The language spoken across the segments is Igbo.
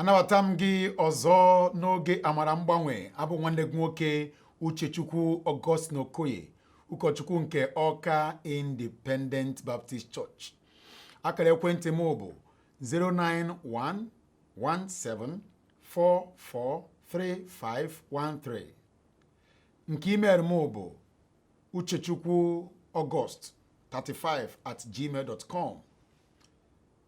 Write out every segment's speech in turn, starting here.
anabata m gị ọzọ n'oge amara mgbanwe abụ nwanne gị nwoke Uchechukwu Augustine Okoye ụkọchukwu nke Ọka Independent Baptist Church akara ekwentị m bụ 09117443513 nke email m bụ uchechukwu august 35 at gmail dot com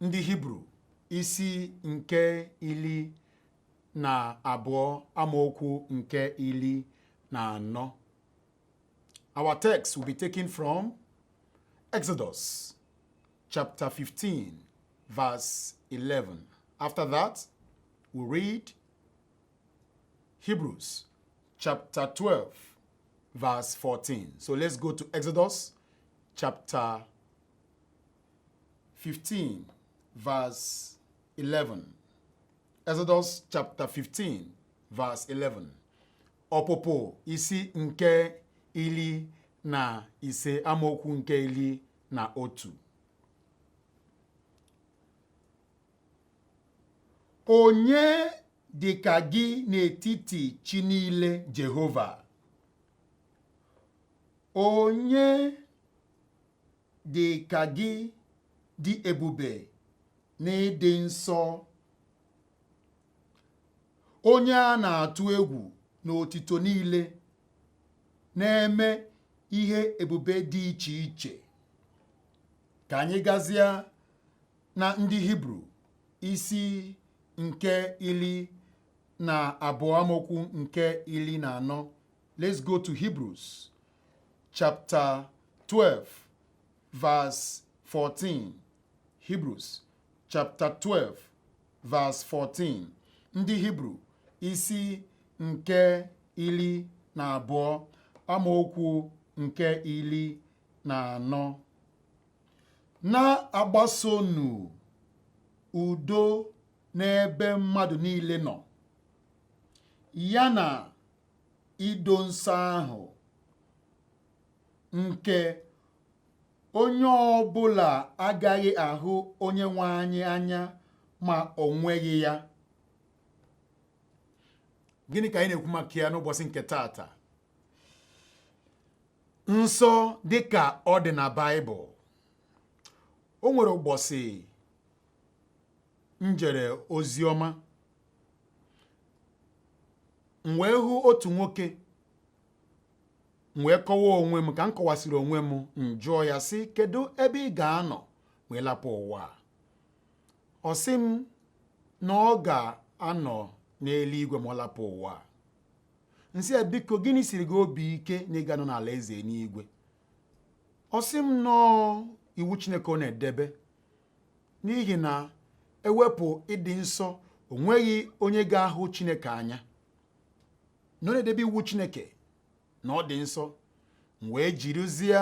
ndị hibru isi nke ili na abụọ amaokwu nke ili na anọ our text will be taken from exodus chapter 15 verse 11 after that we read hebrews chapter 12 verse 14. So let's go to Exodus chapter 15 verse 11. Exodus chapter 15 verse 11. Ọpụpụ isi nke ili na ise amaokwu nke ili na otu. Onye dịka gị n'etiti chi niile Jehova? Onye dị ka gị dị ebube n'ịdị nsọ onye a na-atụ egwu n'otito niile na-eme ihe ebube dị iche iche ka anyị gazie na ndị hibru isi nke ili na abụọ amaokwu nke ili na anọ let's go to hebrews chapter 12 verse 14 Hebrews chapter 12 verse 14 ndị Hibru isi nke ili na abụọ amaokwu nke ili na anọ na-agbasonụ udo n'ebe mmadụ niile nọ ya na ido nsọ ahụ nke onye ọbụla agaghị ahụ onye nwe anyị anya ma o nweghị ya gịnị ka anyị na-ekwu maka ya n'ụbọsị nke taata nsọ dịka ọ dị na baịbụl o nwere ụbọsị m jere oziọma m wee hụ otu nwoke m wee kọwaa onwe m ka m kọwasịrị onwe m m jụọ ya sị kedu ebe ị ga-anọ ma ị lapụ ụwa a ọ sị m na ọ ga-anọ n'eluigwe ma ọ lapụ ụwa a m sị ya biko gịnị siri gị obi ike na ị ga-anọ n'alaeze n'igwe ọ sị m na ọ iwu chineke ọ na-edebe n'ihi na e wepụ ịdị nsọ o nweghị onye ga-ahụ chineke anya na ọ na-edebe iwu chineke na ọ dị nsọ m wee jirizie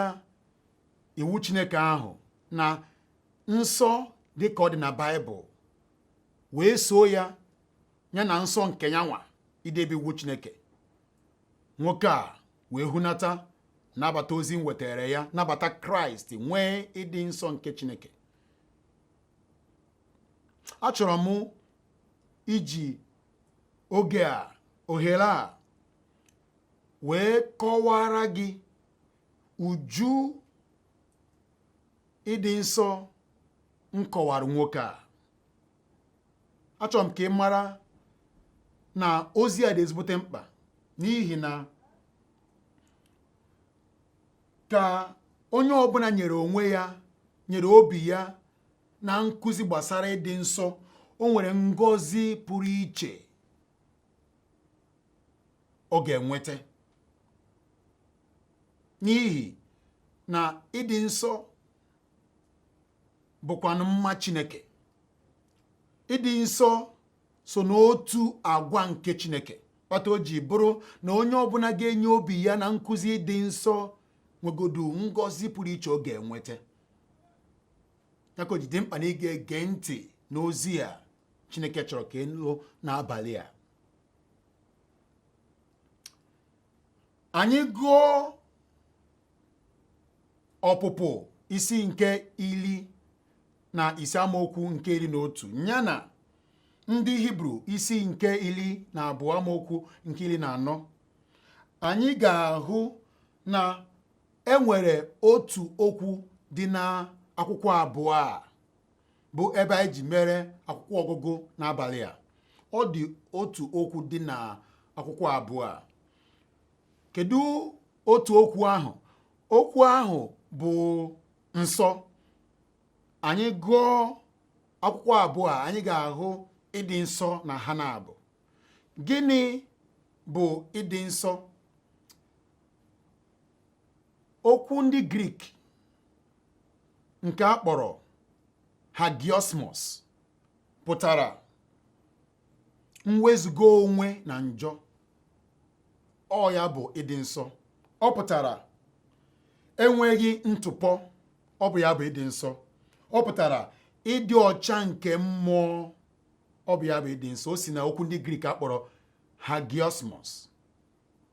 iwu chineke ahụ na nsọ dị ka ọ dị na baịbụl wee soo ya ya na nsọ nke ya nwa idebe iwu chineke nwoke a wee hunata nabata ozi m wetara ya nabata kraịst nwee ịdị nsọ nke chineke achọrọ m iji oge a ohere a wee kọwara gị uju ịdị nsọ m kọwara nwoke a achọrọ m ka ị mara na ozi a dị ezigbote mkpa n'ihi na ka onye ọbụla nyere onwe ya nyere obi ya na nkụzi gbasara ịdị nsọ o nwere ngọzi pụrụ iche ọ ga-enweta n'ihi na ịdị nsọ bụkwanụ mma Chineke ịdị nsọ so n'otu agwa nke Chineke kpata o ji bụrụ na onye ọbụla ga-enye obi ya na nkụzi ịdị nsọ nwegodu ngọzi pụrụ iche ọ ga-enweta ya ka o ji dị mkpa na ị ga-ege ntị n'ozi a Chineke chọrọ ka ị nụ n'abalị a anyị gụọ ọpụpụ isi nke iri na ise amaokwu nke iri na otu ya na ndị hibru isi nke iri na abụọ amaokwu nke iri na anọ anyị ga-ahụ na e nwere otu okwu dị n'akwụkwọ abụọ a bụ ebe anyị ji mere akwụkwọ ọgụgụ n'abalị a ọ dị otu okwu dị na akwụkwọ abụọ a kedu otu okwu ahụ okwu ahụ bụ nsọ anyị gụọ akwụkwọ abụọ a anyị ga-ahụ ịdị nsọ na ha n'abụọ gịnị bụ ịdị nsọ okwu ndị grik nke a kpọrọ hagiosmos pụtara mwezuga onwe na njọ ọ ya bụ ịdị nsọ ọ pụtara enweghị ntụpọ ọ bụ ya bụ ịdị nsọ ọ pụtara ịdị ọcha nke mmụọ ọ bụ ya bụ ịdị nsọ o si na okwu ndị grik a kpọrọ hagiosmos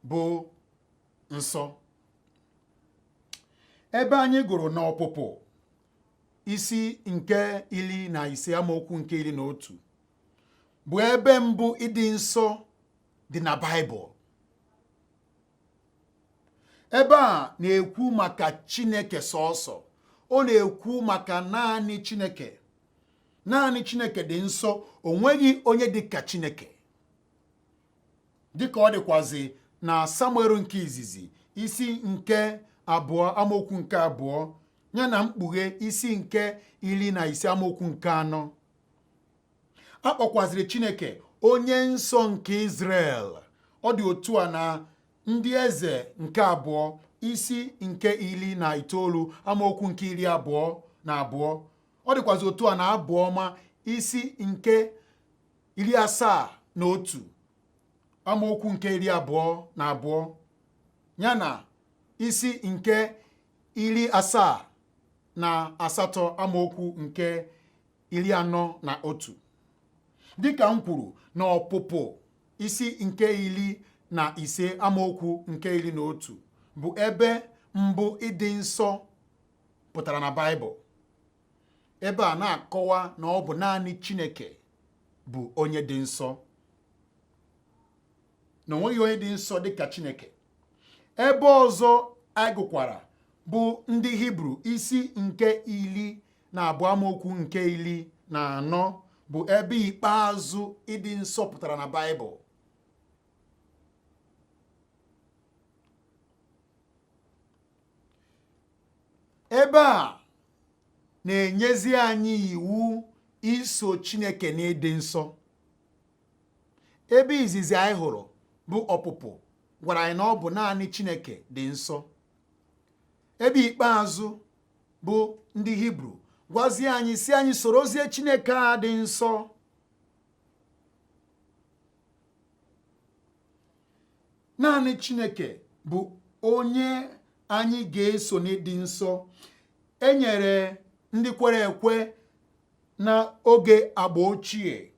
bụ nsọ ebe anyị gụrụ na ọpụpụ isi nke iri na ise amaokwu nke iri na otu bụ ebe mbụ ịdị nsọ dị na Baịbụl ebe a na-ekwu maka Chineke sọsọ ọ na-ekwu maka naanị Chineke naanị Chineke dị nsọ o nweghị onye dị ka Chineke dịka ọ dịkwazi na samuel nke izizi isi nke abụọ amaokwu nke abụọ ya na mkpughe isi nke iri na ise amaokwu nke anọ a kpọkwaziri chineke onye nsọ nke Izrel ọ dị otu a na ndị eze nke abụọ isi nke iri na itoolu amaokwu nke iri abụọ na abụọ ọ dịkwazi otu a na abụ ọma isi nke iri asaa na otu amaokwu nke iri abụọ na abụọ ya na isi nke iri asaa na asatọ amaokwu nke iri anọ na otu dịka m kwuru na ọpụpụ isi nke iri na ise amaokwu nke iri na otu bụ ebe mbụ ịdị nsọ pụtara na Baịbụl ebe a na-akọwa na ọ bụ naanị Chineke bụ onye dị nsọ na o nweghị onye dị nsọ dịka Chineke ebe ọzọ anyị gụkwara bụ ndị Hibru isi nke iri na abụọ amaokwu nke iri na anọ bụ ebe ikpeazụ ịdị nsọ pụtara na Baịbụl ebe a na-enyezi anyị iwu iso Chineke n'ịdị nsọ ebe izizi anyị hụrụ bụ ọpụpụ gwara anyị na ọ bụ naanị Chineke dị nsọ ebe ikpeazụ bụ ndị Hibru gwazie anyị sị anyị sorozie Chineke a dị nsọ naanị chineke bụ onye anyị ga-eso n'ịdị nsọ e nyere ndị kwere ekwe na oge agba ochie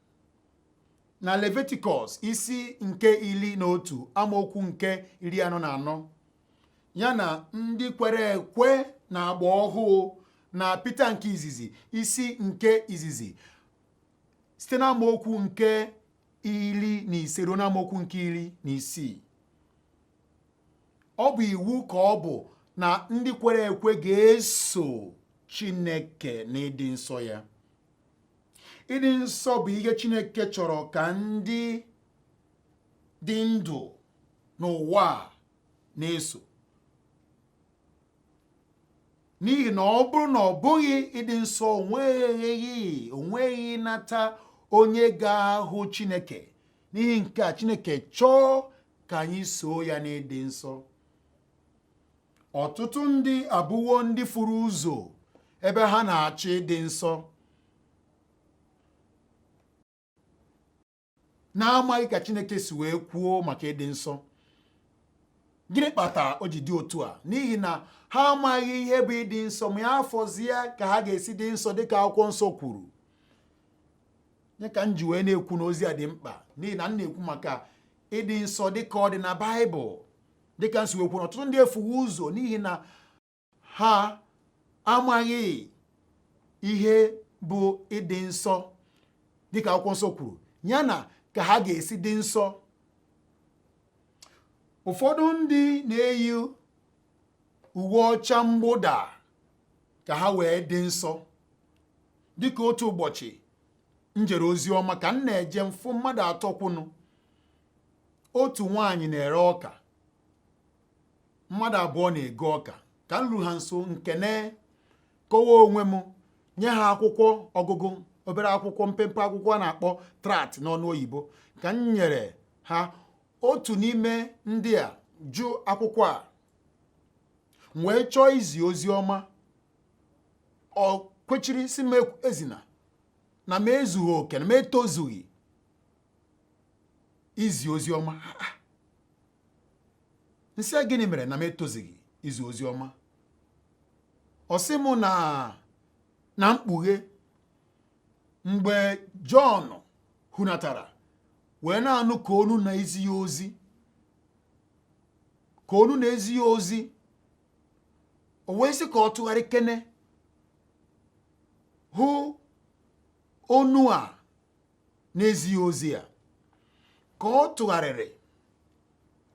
na leviticus isi nke iri na otu amaokwu nke iri anọ na anọ ya na ndị kwere ekwe na agba ọhụụ na pita nke izizi isi nke izizi site na amaokwu nke iri na ise ruo n'amaokwu nke iri na isii ọ bụ iwu ka ọ bụ na ndị kwere ekwe ga-eso Chineke n'ịdị nsọ ya ịdị nsọ bụ ihe Chineke chọrọ ka ndị dị ndụ n'ụwa na-eso n'ihi na ọ bụrụ na ọ bụghị ịdị nsọ onweghị onweghị nata onye ga-ahụ Chineke n'ihi nke a Chineke chọọ ka anyị soo ya n'ịdị nsọ ọtụtụ ndị abụwo ndị furu ụzọ ebe ha na-achọ ịdị nsọ na-amaghị ka Chineke si wee kwuo maka ịdị nsọ gịnị kpatara o ji dị otu a n'ihi na ha amaghị ihe bụ ịdị nsọ ma ya afọzie ka ha ga-esi dị nsọ dịka akwụkwọ nsọ kwuru nya ka m ji wee na-ekwu na ozi a dị mkpa n'ihi na m na-ekwu maka ịdị nsọ dịka ọ dị na baịbụl dịka m si wee kwuo na ọtụtụ ndị efuwe ụzọ n'ihi na ha amaghị ihe bụ ịdị nsọ dịka akwụkwọ nsọ kwuru ya na ka ha ga-esi dị nsọ ụfọdụ ndị na-eyi uwe ọcha mgbụda ka ha wee dị nsọ dịka otu ụbọchị m jere ozi ọma ka m na-eje m fụ mmadụ atọ kwụnụ otu nwaanyị na-ere ọka mmadụ abụọ na-ego ọka ka m ru ha nso m kene kọwa onwe m nye ha akwụkwọ ọgụgụ obere akwụkwọ mpempe akwụkwọ a na-akpọ tract n'onu oyibo ka m nyere ha otu n'ime ndị a jụ akwụkwọ a m wee chọọ izi ozi ọma o kwechiri sị m ezina na m ezughị oke na m etozughị izi ozi ọma m sị a gịnị mere na m etozughị izi ozi ọma ọ sị m na na mkpughe mgbe Jọn hunatara wee na-anụ ka onu na-ezi ya ozi ka onu na-ezi ya ozi o wee sị ka ọ tụgharịkene hụ onu a na-ezi ya ozi ya ka ọ tụgharịrị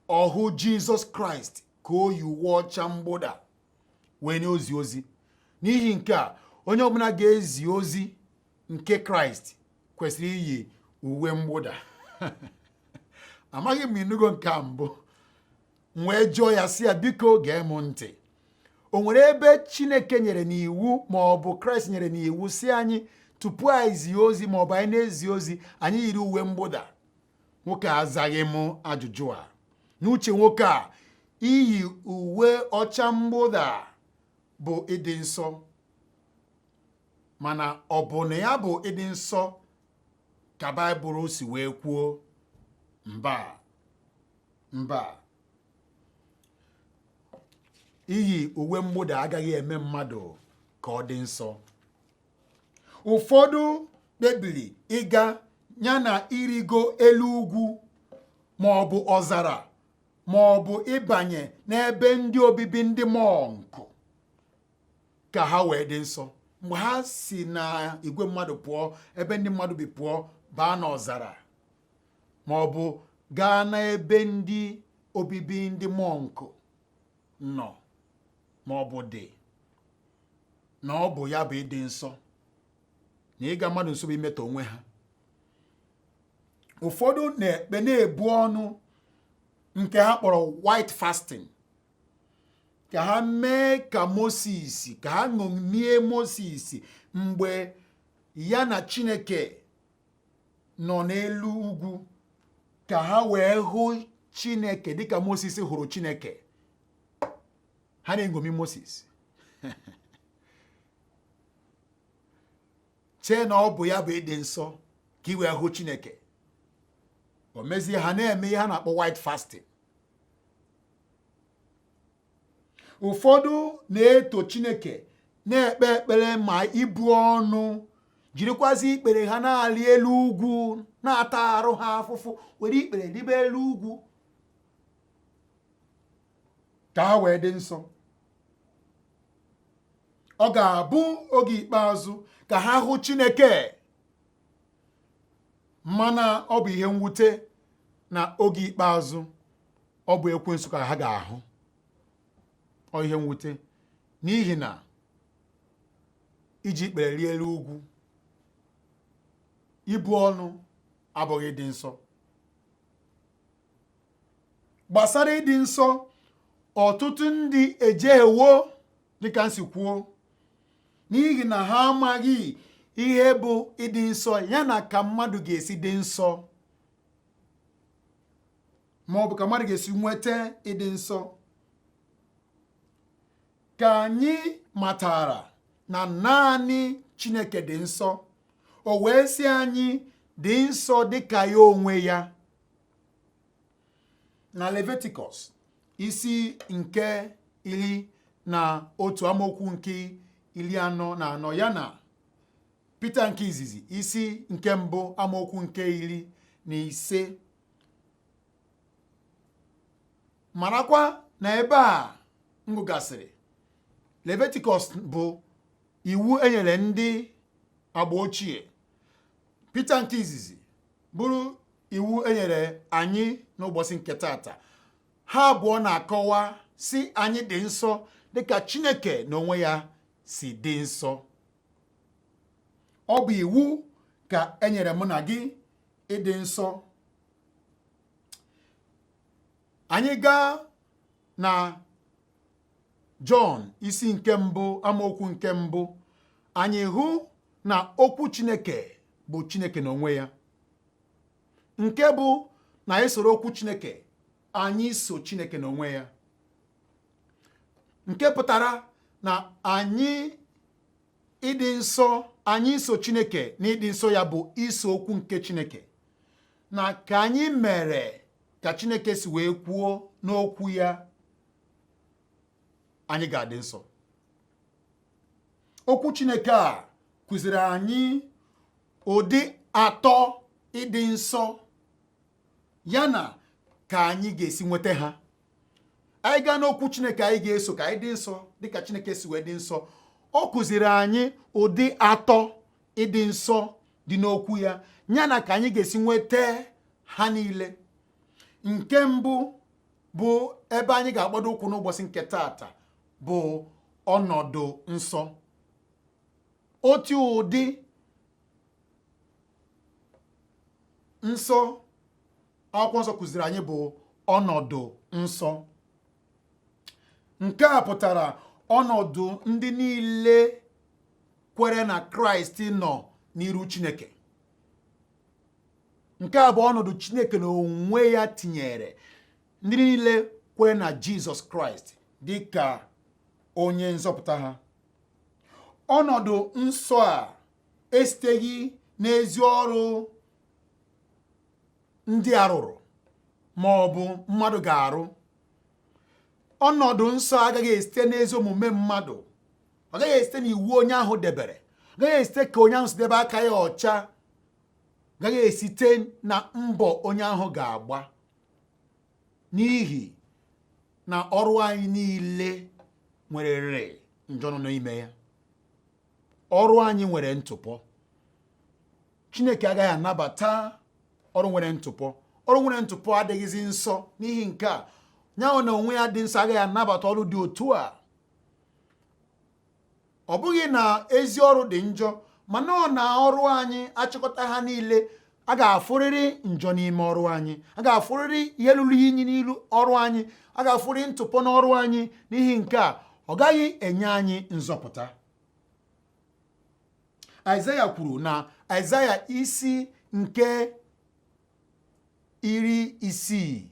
ọ hụ jizọs kraịst ka o yi uwe ọcha mgbụda wee na-ezi ozi n'ihi nke a onye ọbụla ga-ezi ozi nke kraịst kwesịrị iyi uwe mgbụda amaghị m ị nụgo nke a mbụ m wee jụọ ya sị ya biko gee m ntị o nwere ebe chineke nyere n'iwu ma ọ bụ kraịst nyere n'iwu sị anyị tupu anyị zie ozi ma ọ bụ anyị na-ezi ozi anyị yiri uwe mgbụda nwoke a azaghị m ajụjụ a n'uche nwoke a iyi uwe ọcha mgbụda bụ ịdị nsọ mana ọ bụ na ya bụ ịdị nsọ ka baịbụl si wee kwuo mba mba iyi uwe mgbụda agaghị eme mmadụ ka ọ dị nsọ ụfọdụ kpebiri ịga ya na irigo elu ugwu ma ọ bụ ọzara ma ọ bụ ịbanye n'ebe ndị obibi ndị mọnkụ ka ha wee dị nsọ mgbe ha si na igwe mmadụ pụọ ebe ndị mmadụ bi pụọ baa n'ọzara ma ọ bụ gaa n'ebe ndị obibi ndị mọnkụ nọ ma ọ bụ dị na ọ bụ ya bụ ịdị nsọ na ịga mmadụ nso bụ imetọ onwe ha ụfọdụ na-ekpe na-ebu ọnụ nke ha kpọrọ white fasting ka ha mee ka Moses ka ha ṅomie Moses mgbe ya na Chineke nọ n'elu ugwu ka ha wee hụ chineke dịka moses hụrụ chineke ha na-eṅomi moses chee na ọ bụ ya bụ ịdị nsọ ka i wee hụ chineke o mezie ha na-eme ihe ha na-akpọ white fasting ụfọdụ na-eto chineke na-ekpe ekpere ma ibu ọnụ jirikwazi ikpere ha na-arị elu ugwu na-ata arụ ha afụfụ were ikpere ribe elu ugwu ka ha wee dị nsọ ọ ga-abụ oge ikpeazụ ka ha hụ chineke mana ọ bụ ihe mwute na oge ikpeazụ ọ bụ ekwensu ka ha ga-ahụ ọ ihe mwute n'ihi na iji ikpere rịa elu ugwu ibu ọnụ abụghị ịdị nsọ gbasara ịdị nsọ ọtụtụ ndị ejehiewo dịka m si kwuo n'ihi na ha amaghị ihe bụ ịdị nsọ ya na ka mmadụ ga-esi dị nsọ ma ọ bụ ka mmadụ ga-esi nweta ịdị nsọ ka anyị matara na naanị Chineke dị nsọ o wee sị anyị dị nsọ dị ka ya onwe ya na Leviticus isi nke iri na otu amaokwu nke iri anọ na anọ ya na Pita nke izizi isi nke mbụ amaokwu nke iri na ise marakwa na ebe a m gụgasịrị leviticus bụ iwu enyere ndị agba ochie peter nke izizi bụrụ iwu enyere anyị n'ụbọchị nke tata ha abụọ na-akọwa sị anyị dị nsọ dịka chineke n'onwe ya si dị nsọ ọ bụ iwu ka enyere mụ na gị ịdị nsọ anyị gaa na Jọn isi nke mbụ amaokwu nke mbụ anyị hụ na okwu Chineke bụ Chineke n'onwe ya nke bụ na anyị soro okwu Chineke anyị so Chineke n'onwe ya nke pụtara na anyị ịdị nsọ anyị iso chineke n'ịdị nsọ ya bụ iso okwu nke chineke na ka anyị mere ka chineke si wee kwuo n'okwu ya anyị ga-adị nsọ okwu chineke a kụziri anyị ụdị atọ ịdị nsọ ya na ka anyị ga-esi nweta ha anyị gaa n'okwu chineke anyị ga-eso ka anyị dị nsọ dịka chineke si wee dị nsọ ọ kụziri anyị ụdị atọ ịdị nsọ dị n'okwu ya ya na ka anyị ga-esi nweta ha niile nke mbụ bụ ebe anyị ga-agbado ụkwụ n'ụbọchị nke tata bụ ọnọdụ nsọ otu ụdị nsọ akwụkwọ nsọ kụziri anyị bụ ọnọdụ nsọ nke a pụtara ọnọdụ ndị niile kwere na kraịst nọ n'iru chineke nke a bụ ọnọdụ chineke na onwe ya tinyere ndị niile kwere na jizọs kraịst dị ka onye nzọpụta ha ọnọdụ nsọ a esiteghị n'ezi ọrụ ndị a rụrụ ma ọ bụ mmadụ ga-arụ ọnọdụ nsọ agaghị esite n'ezi omume mmadụ ọ gaghị esite n'iwu onye ahụ debere ọ gaghị esite ka onye ahụ si debe aka ya ọcha ọ gaghị esite na mbọ onye ahụ ga-agba n'ihi na ọrụ anyị niile nwererịrị njọ nọ n'ime ya ọrụ anyị nwere ntụpọ chineke agaghị anabata ọrụ nwere ntụpọ ọrụ nwere ntụpọ adịghịzi nsọ n'ihi nke a yahweh na onwe ya dị nsọ agaghị anabata ọrụ dị otu a ọ bụghị na ezi ọrụ dị njọ mana ọ na ọrụ anyị a chịkọta ha niile a ga-afụrịrị njọ n'ime ọrụ anyị a ga-afụrịrị ihe lụrụ inyi n'ilu ọrụ anyị a ga-afụrịrị ntụpọ n'ọrụ anyị n'ihi nke a ọ gaghị enye anyị nzọpụta aịzaya kwuru na aịzaya isi nke iri isii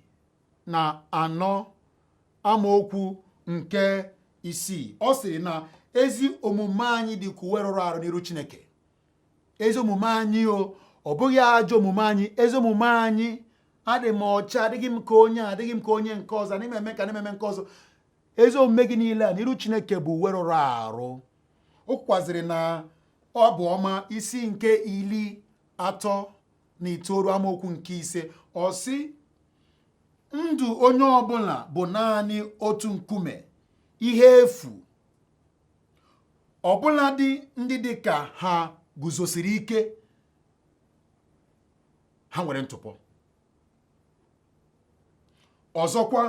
na anọ amaokwu nke isii ọ sịrị na ezi omume anyị dị ka uwe rụrụ arụ n'iru chineke ezi omume anyị o ọ bụghị ajọ omume anyị ezi omume anyị adị m ọcha adịghị m ka onye adịghị m ka onye nke ọzọ na-eme nke a na-eme nke ọzọ ezi omume gị niile a n'iru chineke bụ uwe rụrụ arụ o kwukwaziri na abụ ọma isi nke iri atọ na itoolu amaokwu nke ise ọ sị ndụ onye ọbụla bụ naanị otu nkuume ihe efu ọbụladị ndị dị ka ha guzosiri ike ha nwere ntụpọ ọzọkwa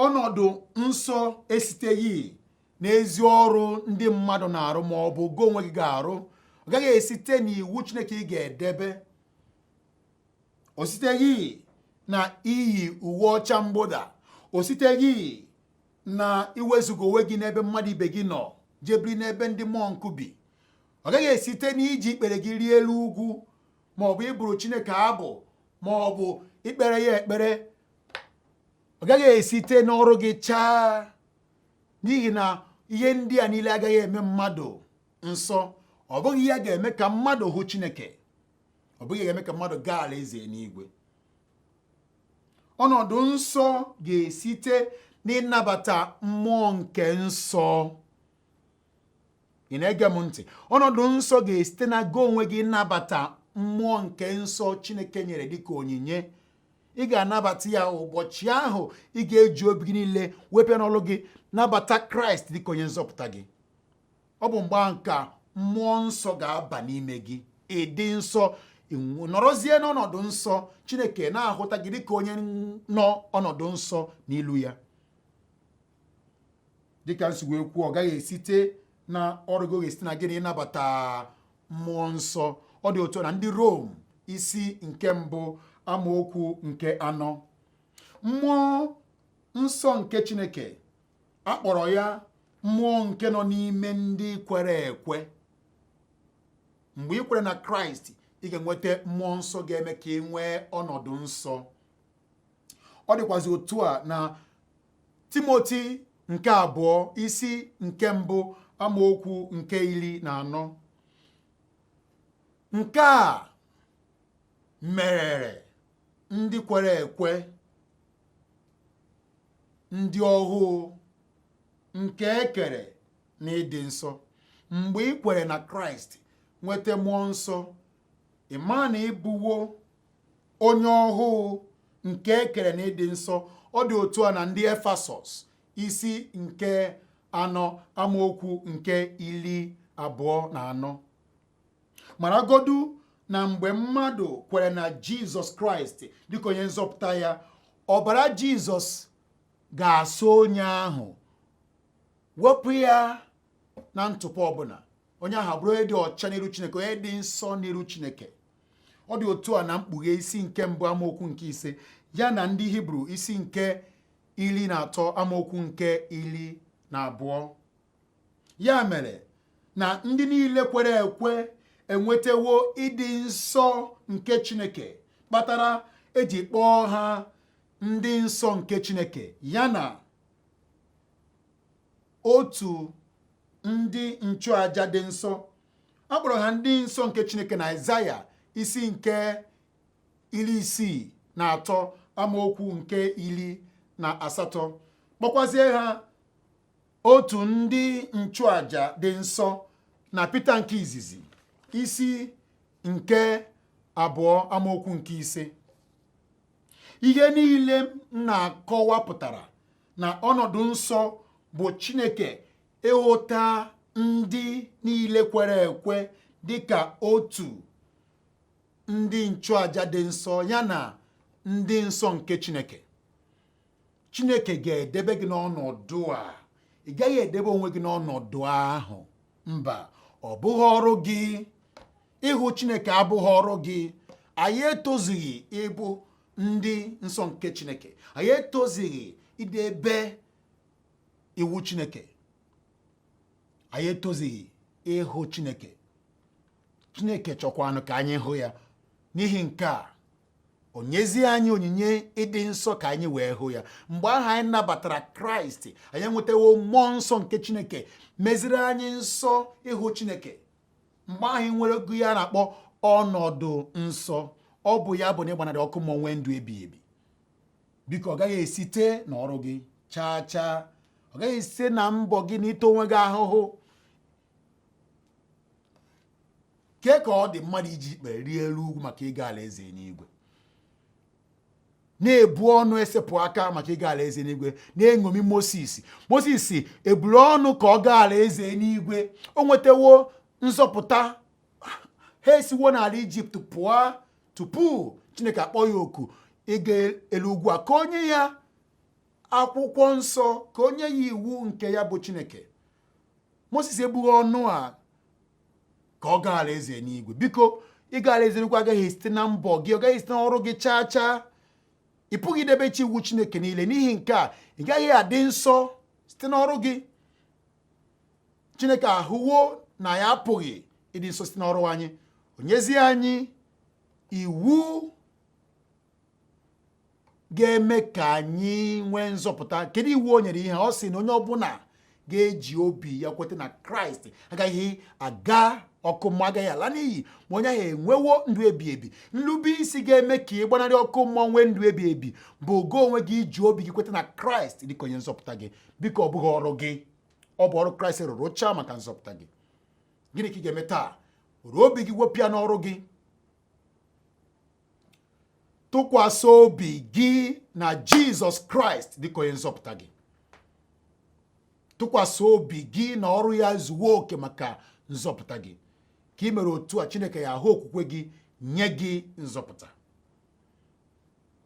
ọnọdụ nsọ esiteghị n'ezi ọrụ ndị mmadụ na-arụ ma ọ bụ gị onwe gị ga-arụ ọ gaghị esite n'iwu Chineke ị ga-edebe o siteghị na iyi uwe ọcha mgbụda o siteghị na iwezuga onwe gị n'ebe mmadụ ibe gị nọ jee biri n'ebe ndị mọnk bi ọ gaghị esite n'iji ikpere gị rịa elu ugwu ma ọ bụ ịbụrụ Chineke abụ ma ọ bụ ikpere ya ekpere ọ gaghị esite n'ọrụ gị chaa n'ihi na ihe ndị a niile agaghị eme mmadụ nsọ ọ bụghị ya ga-eme ka mmadụ hụ Chineke ọ bụghị ya ga-eme ka mmadụ gaa alaeze n'igwe ọnọdụ nsọ ga-esite n'ịnabata mmụọ nke nsọ ị na-ege m ntị ọnọdụ nsọ ga-esite na gị onwe gị ịnabata mmụọ nke nsọ chineke nyere dịka onyinye ị ga-anabata ya ụbọchị ahụ ị ga-eji obi gị niile wepụ ya n'ọlụ gị nabata kraịst dịka onye nzọpụta gị ọ bụ mgbe ahụ ka mmụọ nsọ ga-aba n'ime gị ị dị nsọ nọrọzie n'ọnọdụ nsọ chineke na-ahụta gị dịka onye nọ ọnọdụ nsọ n'ilu ya dịka m si wee kwuo ọ gaghị esite na ọrụ gị ga-esite na gịnị ịnabata mmụọ nsọ ọ dị otu a na ndị Rom isi nke mbụ amaokwu nke anọ mmụọ nsọ nke chineke a kpọrọ ya mmụọ nke nọ n'ime ndị kwere ekwe mgbe ị kwere na kraịst ị ga-enweta mmụọ nsọ ga-eme ka ị nwee ọnọdụ nsọ ọ dịkwazi otu a na timoti nke abụọ isi nke mbụ amaokwu nke iri na anọ nke a merere ndị kwere ekwe ndị ọhụụ nke e kere na ịdị nsọ mgbe ị kwere na kraịst nweta mmụọ nsọ ị ma na ị bụwo onye ọhụụ nke e kere na ịdị nsọ ọ dị otu a na ndị efesọs isi nke anọ amaokwu nke iri abụọ na anọ maragodu na mgbe mmadụ kwere na jizọs kraịst dịka onye nzọpụta ya ọbara jizọs ga-asa onye ahụ wepụ ya na ntụpọ ọbụla onye ahụ bụrụ onye dị ọcha n'iru chineke onye dị nsọ n'iru chineke ọ dị otu a na mkpughe isi nke mbụ amaokwu nke ise ya na ndị hibru isi nke iri na atọ amaokwu nke iri na abụọ ya mere na ndị niile kwere ekwe enwetawo ịdị nsọ nke chineke kpatara e ji kpọọ ha ndị nsọ nke chineke ya na otu ndị nchụaja dị nsọ a kpọrọ ha ndị nsọ nke chineke na aịzaya isi nke iri isii na atọ amaokwu nke iri na asatọ kpọkwazie ha otu ndị nchụaja dị nsọ na Pita nke izizi isi nke abụọ amaokwu nke ise ihe niile m na-akọwa pụtara na ọnọdụ nsọ bụ Chineke ịhụta ndị niile kwere ekwe dị ka otu ndị nchụaja dị nsọ ya na ndị nsọ nke Chineke chineke ga-edebe gị n'ọnọdụ a ị gaghị edebe onwe gị n'ọnọdụ ahụ mba ọ bụghị ọrụ gị ịhụ chineke abụghị ọrụ gị anyị etozughị ịbụ ndị nsọ nke chineke anyị etozughị idebe iwu chineke anyị etozughị ịhụ chineke chineke chọkwanụ ka anyị hụ ya n'ihi nke a o nyezie anyị onyinye ịdị nsọ ka anyị wee hụ ya mgbe ahụ anyị nabatara kraịst anyị enwetawo mmụọ nsọ nke chineke meziri anyị nsọ ịhụ chineke mgbe ahụ anyị nwerego ihe a na-akpọ ọnọdụ nsọ ọ bụ ya bụ na ịgbanarị ọkụ mmụọ nwee ndụ ebighị ebi biko ọ gaghị esite na ọrụ gị chaa chaa ọ gaghị esite na mbọ gị na ịta onwe gị ahụhụ kee ka ọ dị mmadụ iji ikpere rịa elu ugwu maka ịga alaeze n'igwe na-ebu ọnụ esepụ aka maka ịga alaeze n'igwe na-eṅomi Moses Moses eburo ọnụ ka ọ gaa alaeze n'igwe o nwetawo nzọpụta ha esiwo n'ala Ijipt pụọ tupu Chineke akpọ ya oku ịga elu ugwu a ka o nye ya akwụkwọ nsọ ka o nye ya iwu nke ya bụ Chineke moses ebughị ọnụ a ka ọ gaa alaeze n'igwe biko ịga alaeze n'igwe agaghị esite na mbọ gị ọ gaghị esite na ọrụ gị chaa chaa ị pụghị idebecha iwu chineke niile n'ihi nke a ị gaghị adị nsọ site n'ọrụ gị chineke ahụwo na anyị apụghị ịdị nsọ site n'ọrụ anyị o nyezie anyị iwu ga-eme ka anyị nwee nzọpụta kedu iwu o nyere ihe ọ sị na onye ọbụla ga-eji obi ya kweta na kraịst agaghị aga ọkụ mmụọ agaghị ala n'iyi ma onye ahụ enwewo ndụ ebi ebi nlube isi ga-eme ka ị gbanarị ọkụ mmụọ nwee ndụ ebi ebi bụ gị onwe gị iji obi gị kweta na kraịst dịka onye nzọpụta gị biko ọ bụghị ọrụ gị ọ bụ ọrụ kraịst rụrụ chaa maka nzọpụta gị gịnị ka ị ga-eme taa were obi gị wepụ ya n'ọrụ gị tụkwasị obi gị na jizọs kraịst dịka onye nzọpụta gị tụkwasị obi gị na ọrụ ya zuwo oke maka nzọpụta gị ka ị mere otu a chineke ya ahụ okwukwe gị nye gị nzọpụta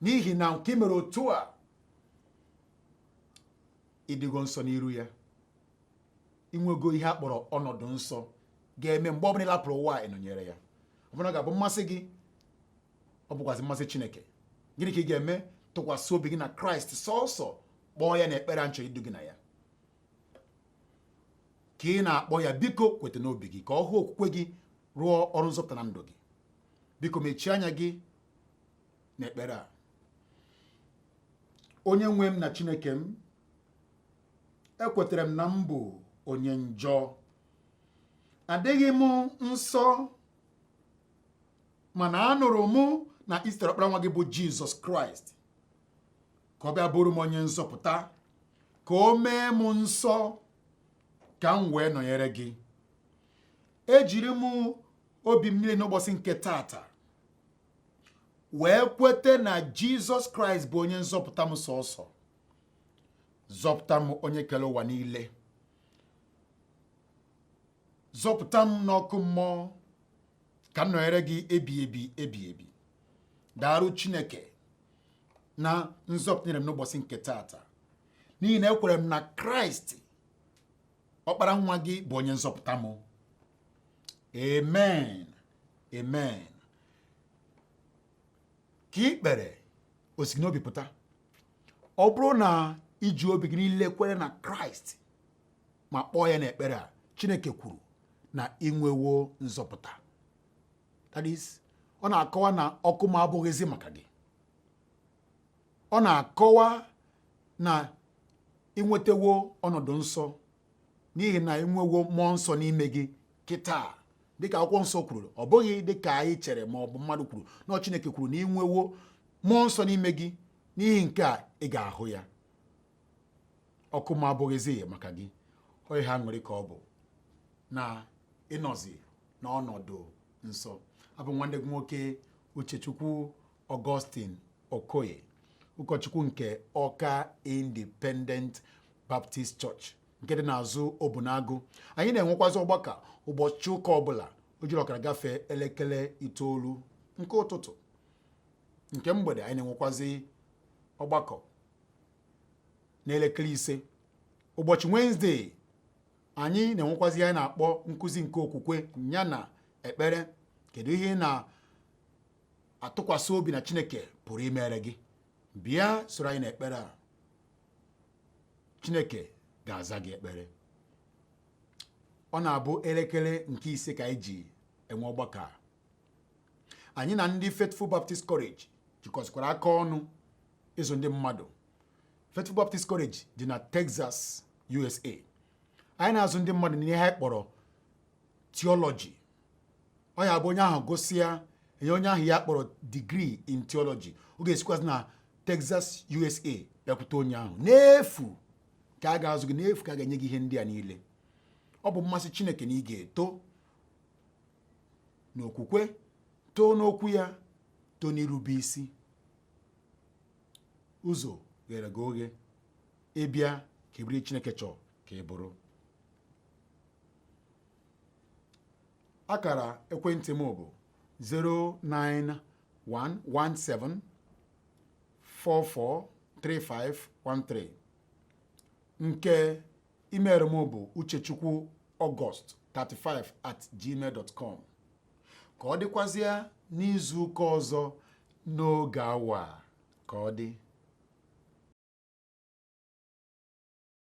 n'ihi na nke ị mere otu a ị dịgo nsọ n'iru ya i nwego ihe a kpọrọ ọnọdụ nsọ ga-eme mgbe ọbụla ị lapụrụ ụwa a ị nọnyere ya ọ bụ na ọ ga-abụ mmasị gị ọ bụkwazị mmasị chineke gịnị ka ị ga-eme tụkwasị obi gị na kraịst sọsọ kpọọ ya na ekpere a m chọrọ idu gị na ya ka ị na-akpọ ya biko kweta n'obi gị ka ọ hụ okwukwe gị rụọ ọrụ nzọpụta na ndụ gị biko mechie anya gị n'ekpere a onye nwe m na chineke m ekwetere m na m bụ onye njọ adịghị m nsọ mana anụrụ mụ na i zitere ọkpara nwa gị bụ jizọs kraịst ka ọ bịa bụrụ m onye nzọpụta ka o mee m nsọ ka m wee nọnyere gị ejiri m obi m niile n'ụbọchị nke taata wee kwete na jizọs kraịst bụ onye nzọpụta m sọsọ zọpụta m onye kere ụwa niile zọpụta m n'ọkụ mmụọ ka m nọnyere gị ebi ebi ebi ebi daarụ chineke na nzọpụta nyere m n'ụbọchị nke taata n'ihi na ekwere m na kraịst ọkpara nwa gị bụ onye nzọpụta m amen amen ka ị kpere o si gị n'obi pụta ọ bụrụ na i ji obi gị niile kwere na kraịst ma kpọọ ya n'ekpere a chineke kwuru na i nwewo nzọpụta that is ọ na-akọwa na ọkụ mmụọ abụghịzi maka gị ọ na-akọwa na i nwetawo ọnọdụ nsọ n'ihi na ị nwewo mmụọ nsọ n'ime gị kịta dịka akwụkwọ nsọ kwuru ọ bụghị dịka anyị chere ma ọ bụ mmadụ kwuru na Chineke kwuru na ị nwewo mmụọ nsọ n'ime gị n'ihi nke a ị ga-ahụ ya ọkụ mmụọ abụghịzi maka gị o ihe aṅụrị ka ọ bụ na ị nọzi n'ọnọdụ nsọ abụ nwanne gị nwoke Uchechukwu Augustine Okoye ụkọchukwu nke Ọka Independent Baptist Church nke dị n'azụ Obunagụ anyị na-enwekwazị ọgbakọ ụbọchị ụka ọbụla o jiri ọkara gafee elekere itoolu nke ụtụtụ nke mgbede anyị na-enwekwazị ọgbakọ n'elekere ise ụbọchị Wenesde anyị na-enwekwazị anyị na-akpọ nkụzi nke okwukwe ya na ekpere kedu ihe ị na atụkwasị obi na Chineke pụrụ imere gị bịa soro anyị n'ekpere a Chineke ga-aza gị ekpere ọ na-abụ elekere nke ise ka anyị ji enwe ọgbakọ a anyị na ndị Faithful Baptist College jikọsịkwara aka ọnụ ịzụ ndị mmadụ Faithful Baptist College dị na Texas USA anyị na-azụ ndị mmadụ n'ihe anyị kpọrọ theology ọ ya-abụ onye ahụ gụsịa e nye onye ahụ ihe a kpọrọ degree in theology ọ ga-esikwazi na Texas USA bịakwute onye ahụ n'efu ka a ga-azụ gị n'efu ka a ga-enye gị ihe ndị a niile ọ bụ mmasị Chineke na ị ga-eto n'okwukwe too n'okwu ya too n'irube isi ụzọ ghere gị oghe ịbịa ka ị bụrụ ihe Chineke chọrọ ka ị bụrụ akara ekwentị m bụ 09117 443513 nke email m bụ uchechukwu August 35 at gmail dot com ka ọ dịkwazịa n'izu ụka ọzọ n'oge awa a ka ọ dị